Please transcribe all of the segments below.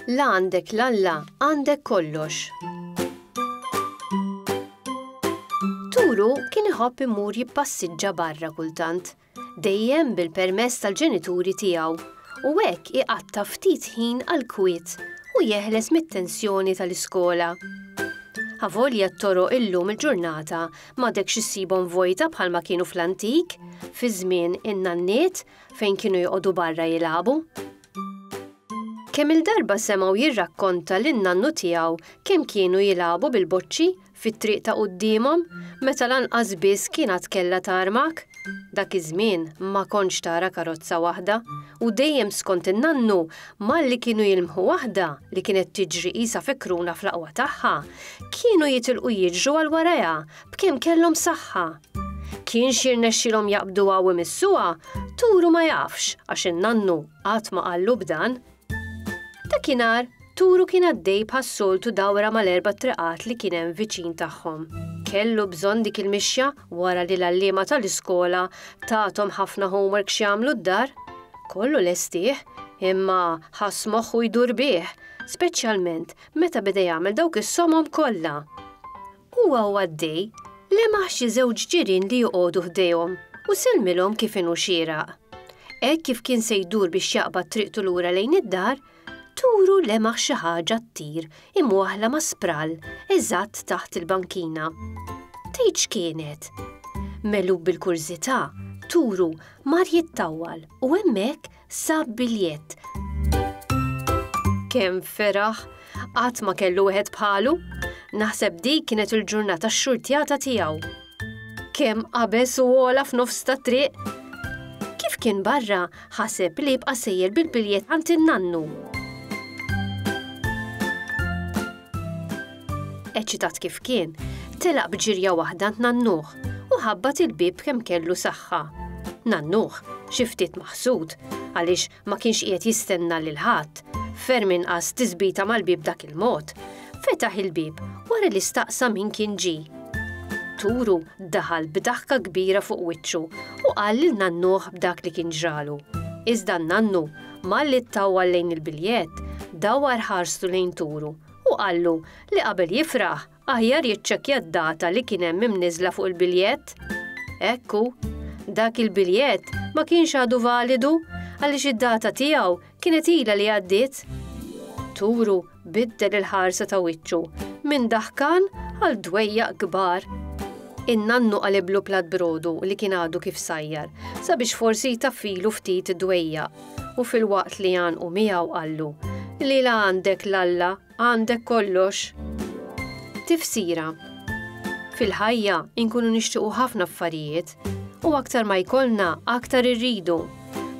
La għandek l-Alla, għandek kollox. Turu kien iħobb imur jippassiġġa barra kultant. dejjem bil-permess tal-ġenituri tiegħu, u hekk iqatta' ftit ħin għall-kwiet u jeħles mit-tensjoni tal-iskola. Avolja t-toroq illum il-ġurnata m'għadekx issibhom vojta bħalma kienu fl-antik, fi żmien in-nanniet fejn kienu joqogħdu barra jilagħbu. Kemm-il darba semgħu jirrakkonta lin-nannu tiegħu kemm kienu jilagħbu bil-boċċi fit-triq ta' quddiemhom, meta lanqas biss kien għad kellha tarmak. Dak iż-żmien ma kontx tara karozza waħda, u dejjem skont in-nannu, malli kienu jilmħu waħda li kienet tiġri qisha fekruna fl-aqwa tagħha, kienu jitilqu jiġru għal warajha b'kemm kellhom saħħa. Kienx jirnexxilhom jaqbduha u jmissuha, Turu ma jafx għax in-nannu qatt ma qallu b'dan. Dakinhar, Turu kien għaddej bħas-soltu dawra mal-erba' triqat li kien hemm viċin tagħhom. Kellu bżonn dik il-mixja wara li l-għalliema tal-iskola tathom ħafna homework x'jagħmlu d-dar. Kollu lestih, imma ħass moħħu jdur bih, speċjalment meta beda jagħmel dawk is-somom kollha. Huwa u għaddej, lemaħ xi żewġ ġirien li joqogħdu ħdejhom u sellmilhom kif inhu xieraq. Hekk kif kien se jdur biex jaqbad triqtu lura lejn id-dar, turu lemaħ xi ħaġa ttir imwaħħla ma' sprall eżatt taħt il-bankina. Tgħid x'kienet? Megħlub bil-kurżità, turu mar jittawwal u hemmhekk Sab biljett. Kemm feraħ! Qatt ma kellu wieħed bħalu. Naħseb dik kienet il-ġurnata x-xurtjata tiegħu. Kemm qabeż u għola f'nofs ta' triq. Kif kien barra, ħaseb li jibqa' sejjer bil-biljett għand in-nannu. Eċitat kif kien, telaq b'ġirja waħda tnannuh u ħabbat il-bieb kemm kellu saħħa. Nannuh, xi ftit maħsud, għaliex ma kienx qiegħed jistenna lil ħadd, ferm inqas tiżbita mal-bieb dak il-mod, fetaħ il-bieb wara li staqsa min kien ġi. Turu daħal b'daħka kbira fuq wiċċu u qal lil nannuh b'dak li kien ġralu. Iżda n-nannu, malli ttawwal lejn il-biljett, dawwar ħarstu lejn Turu Hu qallu li qabel jifraħ, aħjar jiċċekkja d-data li kien hemm imniżżla fuq il-biljett. Hekk hu, dak il-biljett ma kienx għadu validu għaliex id-data tiegħu kienet ilha li għaddiet. Turu biddel il-ħarsa ta' wiċċu minn daħkan għal dwejjaq kbar. In-nannu qaliblu plat brodu li kien għadu kif sajjar sabiex forsi jtaffilu ftit id-dwejjaq. u filwaqt li għanqu miegħu qallu, li la għandek l-Alla għandek kollox. Tifsira Fil-ħajja inkunu nixtiequ ħafna affarijiet u aktar ma jkollna aktar irridu.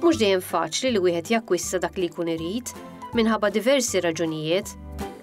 Mhux dejjem faċli li wieħed jakkwista dak li jkun irid minħabba diversi raġunijiet